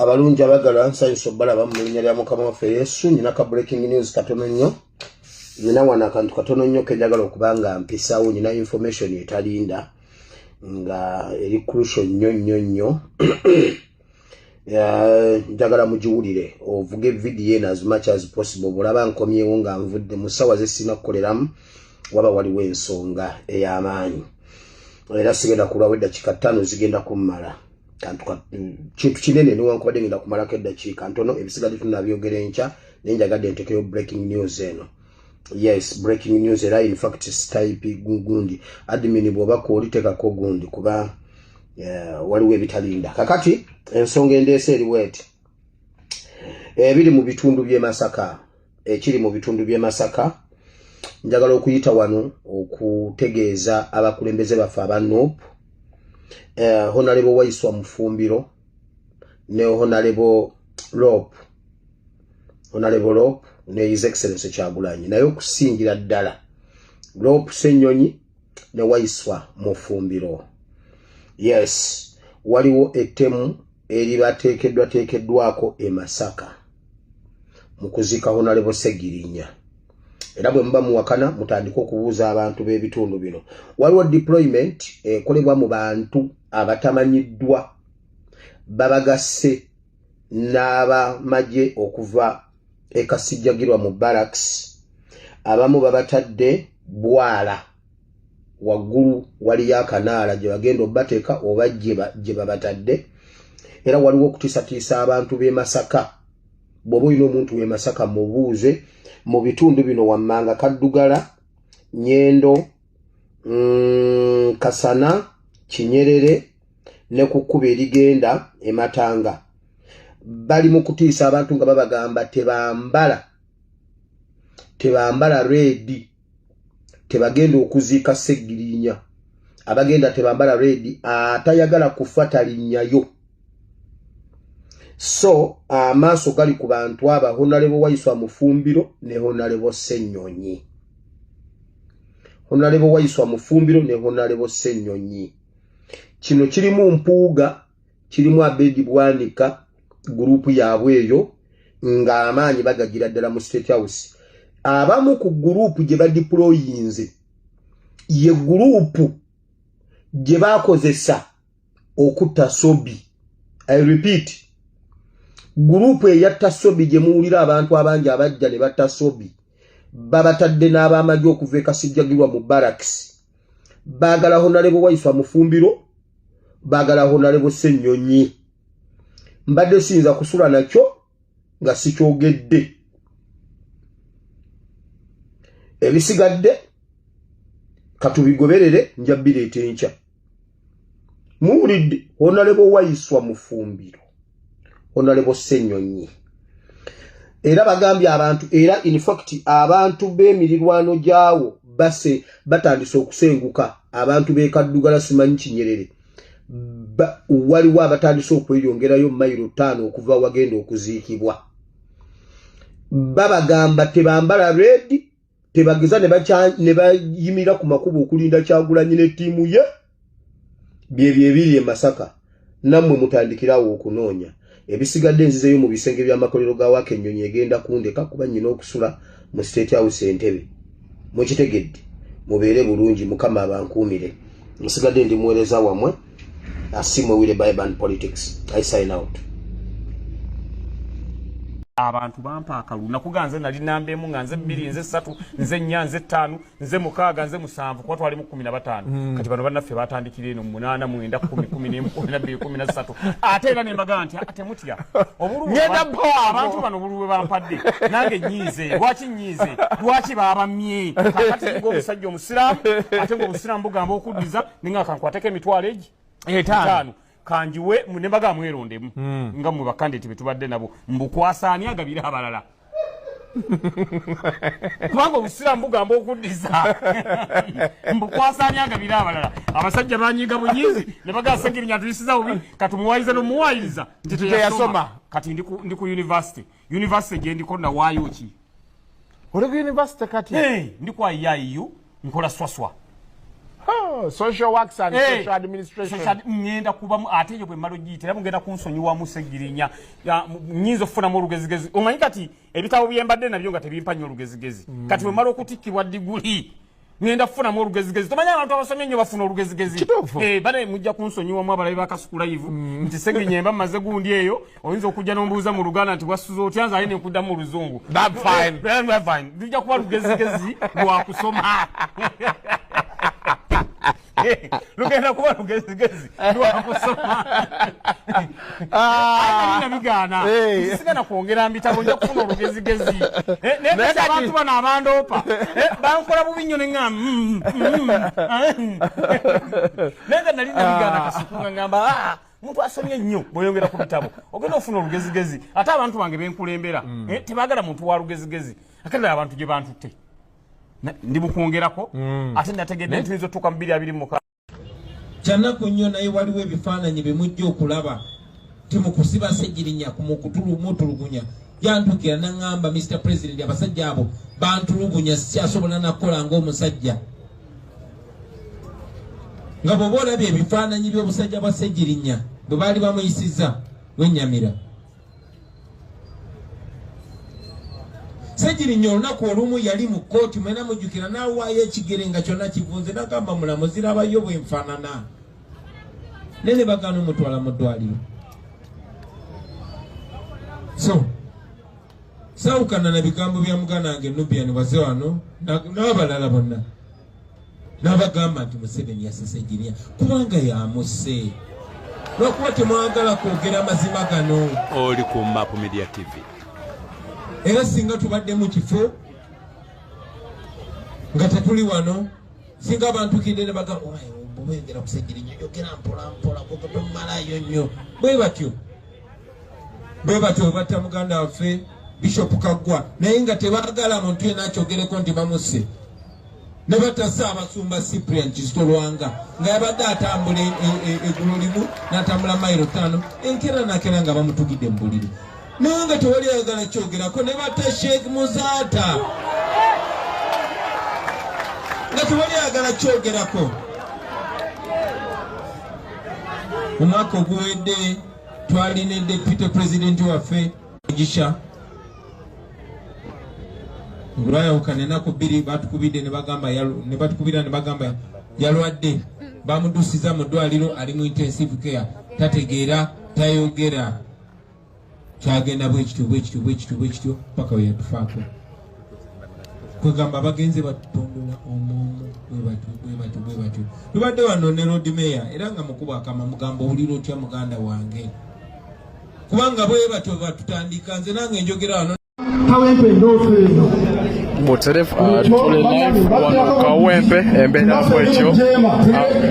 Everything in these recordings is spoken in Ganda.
abalungi abagala nsanyusa obalaba mu linnya lya mukama waffe yesu nina ka breaking news katono nnyo nina wano akantu katono nnyo kenjagala okuba nga mpisawo nina information etalinda nga eri crucial nnyo nnyo nnyo njagala mugiwulire ovuga evidiyo eno azimaky as possible bwolaba nkomyewo nga nvudde mu ssaawa zesirina kukoleramu waba waliwo ensonga ey'amaanyi era sigenda kulwawo eddakiika ttaano zigenda kummala kantu kintu kinene newankubadde ngenda kumalako eddakiika ntono ebisigadde tunabyogera enkya naye njagadde ntekeyo breaking news eno yes breaking news era in fact type gundi admin bwoba kwoli tekako gundi kuba uh, waliwo ebitalinda kakati ensonga endeesa eriwo eti ebiri mu bitundu bye masaka ekiri mu bitundu bye masaka njagala okuyita wano okutegeeza abakulembeze baffe aba nup uh, honalebo waiswa mufumbiro ne honalebo rope onalebo lop ne his excellence kyagulanyi naye okusingira ddala lop senyonyi ne waiswa mufumbiro yes waliwo ettemu eribateekeddwateekeddwako e masaka mu kuzika honalebo segirinya era bwe muba muwakana mutandike okubuuza abantu b'ebitundu bino waliwo deployment ekolebwa mu bantu abatamanyiddwa babagasse n'abamagye okuva e kasijjagirwa mu barracks abamu babatadde bwala waggulu waliyo akanaala gye bagenda obateeka oba gye babatadde era waliwo okutisatiisa abantu b'e masaka bw'oba olina omuntu w'e masaka mubuuze mu bitundu bino wammanga kaddugala nyendo mm, kasana kinyerere ne ku kkuba erigenda ematanga bali mu kutiisa abantu nga babagamba tebambala tebambala reedi tebagenda okuziika segirinya abagenda tebambala reedi atayagala kufa talinnyayo so amaaso gali ku bantu aba honalebo waiswa mufumbiro ne honalebo senyonyi honalebo waiswa mufumbiro ne honalebo senyonyi kino kirimu mpuuga kirimu abedi bwanika gurupu yaabwe eyo ng'amaanyi bagagira ddala mu state house abamu ku gurupu gye badiployinze ye gurupu gye bakozesa okutta sobi i repeat gurupu eyatta sobi gye muwulira abantu abangi abajja ne batta sobi babatadde n'abaamagye okuva ekasijjagirwa mu baraks baagala honalebo waifa mufumbiro baagala honalebo ssennyonyi mbadde siyinza kusula nakyo nga sikyogedde ebisigadde katubigoberere nja bireeta enkya muwulidde onalebo wayiswa mufumbiro onalebo senyonyi era bagambye abantu era infact abantu b'emirirwano gyawo base batandise okusenguka abantu bekaddugala simanyi kinyerere waliwo abatandise okweyongerayo mayiro ttaano okuva wagenda okuziikibwa babagamba tebambala redi tebageza ne bayimira ku makubo okulinda kyagulanyi ne ttiimu ye byebyo ebiri e masaka nammwe mutandikirawo okunoonya ebisigadde nzizeyo mu bisenge by'amakolero ga waaka ennyonyi egenda kundeka kuba nnyina okusula mu state house entebe mukitegedde mubeere bulungi mukama abankuumire nsigadde ndi muweereza wamwe asimwe wire biban politics i sign out abantu bampa akalulu nakuga nze nali namba emu nga nze bbiri nze ssatu nze nnya nze ttaanu nze mukaaga nze musanvu kuba twalimu kumi na bataano mm. kati bano bannaffe batandikira eno munaana mwenda kumi kumi nemu kumi nabbiri kumi na ssatu ate era nembaga nti ah, temutya obuluabantu bano obulu bwe bampadde nange nyiize lwaki nyiize lwaki babamye kakati nga omusajja omusiraamu ate nga obusiraamu bugamba okuddiza ninga kankwateko emitwalo egi etaano kanjiwe ne baga mwerondemu mm. nga mwe bakandidate betubadde nabo mbukwasa ani agabira abalala kubanga obusiraamu bugamba okuddiza mbukwasanya nga biri abalala abasajja banyiga bunyizi ne bagasegirinya tuyisiza bubi katumuwayiriza nomuwayiriza nti teyasoma kati ndi ku univesity univesity gyendiko nawaayo ki oli ku university kati hey, ndi kwa yaiu nkola swaswa oh, social works and hey, social administration social, ngenda kubamu ate yo bwe malo gite labu ngenda kunsonyi wa musegirinya ya nyinzo funa mu rugezigezi omanyi kati ebitabo byembadde nabyo nga tebimpa nyo rugezigezi mm. kati bwe malo kutikibwa diguli ngenda kufunamu olugezigezi tomanyi abantu abasomye nnyo bafuna olugezigezi eh, bane mujja kunsonyiwamu abalabi bakasukulayivu mm. nti segenyemba mumaze gundi eyo oyinza okujja nombuuza mu luganda nti wasuza otya nze aye nenkuddamu oluzungu tujja kuba lugezigezi lwakusoma lugenda kuba lugezigezi eh. lwakusoma ah. nabigaana eh. sigana kwongera mbitabo nja kufuna olugezigezi eh, naye abantu bano abandoopa bankola bubi nnyo neŋa mm, mm, mm. naye nga nali nabigaana ah. kasukunga ngamba ah, muntu asomye nnyo bweyongera ku bitabo ogenda ofuna olugezigezi ate abantu bange benkulembera tebagala muntu wa lugezigezi akadala abantu gye bantutte ndi mukwongerako mm. ate nategedde nti ezotuuka mu biri abiri muka kyanaku nnyo naye waliwo ebifaananyi bimujja okulaba timukusiba segirinya kumutulugunya yantukira naŋamba mr president abasajja abo bantulugunya sikyasobola nakukola ngaomusajja nga bwoba olabye ebifaananyi byobusajja bwa segirinya bwe baali bamuyisiza wenyamira segirinya olunaku olumu yali mu kkooti mwena mujjukira n'awaayo ekigere nga kyonna kivunze nagamba mulamu zirabayo bwenfanana naye ne bagaana omutwala mu ddwaliro so sawukana na bigambo bya muganda wange nubian waze wano n'abalala bonna n'abagamba nti museveni yasese jiniya kubanga yamuse lwakuba temwagala kwogera amazima gano oli ku map media tv era singa tubadde mu kifo nga tetuli wano singa abantu kidde ne bagamba bwengera kusejirinya yogera mpolampola kukutumalayo nnyo bwe batyo bwe batyo webatta muganda waffe bishopu kaggwa naye nga tebagala muntu yena akyogereko nti bamusse ne batasa abasumba cyprian kisitolwanga nga yabadde atambula e, e, e, egulu limu natambula mairo tano enkera nakera nga bamutugidde mu buliri naye nga tewali ayagala kyogerako ne batta sheikh muzaata nga tewali ayagala kyogerako omwaka oguwedde twali ne deputy president waffe mugisha olwayawukana enaku bbiri batukubidde nebatukubira nebagamba yalwadde bamudusiza mu ddwaliro ali mu intensive care tategeera tayogera kyagenda bwekityo bwekityo bwekityo bwekityo paka weyatufaako kwegamba bagenze batutundula omuomu bwebatyo bwebatyo bwebatyo tubadde wano ne lodmeya era nga mukuba akama mugamba owulira otya muganda wange kubanga bwebatyo batutandika nze nange njogera wano kawempe endoofu eno muterefu atule live wano kawempe embeera bwetyo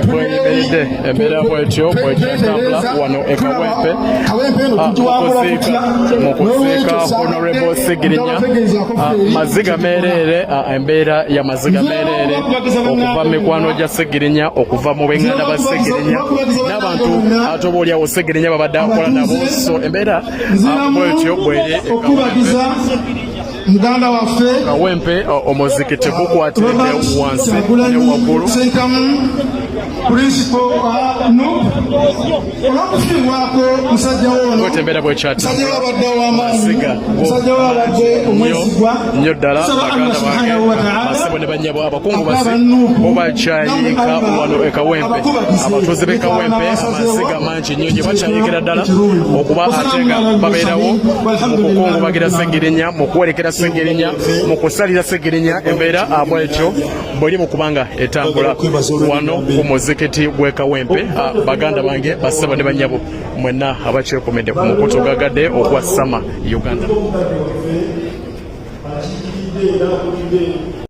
bweyimiride embeera bwetyo bwekyatambula wano ekawempe mukuziika mukuziika honorable sigirinya maziga mereere embeera ya maziga mereere okuva mikwano gya segirinya okuva mu benganda ba segirinya n'abantu ate oba olyawo segirinya babadde akola nabo so embeera bwetyo bweri muganda waffe kawempe omuziki tegukwatidde wansi ne waggulu principal uh, no olw'okufiirwako musajja wonomusajja wabadde owamaanyi musajja wabadde omwesigwa nnyo ddala baganda bange basebo ne bannyabo abakungu basi obakyayika wano ekawempe abatuuze b'ekawempe amasiga mangi nnyo gye bakyayikira ddala okuba ate nga babeerawo mu kukungubagira ssegirinya mu kuwerekera ssegirinya mu kusalira ssegirinya embeera abwekyo bweri mu kubanga etambula wano ku muzikiti gw'e Kawempe ah, baganda bange bassebo ne bannyabo mwenna abakyekomedde ku mukutu gagadde ogwa Sama Uganda.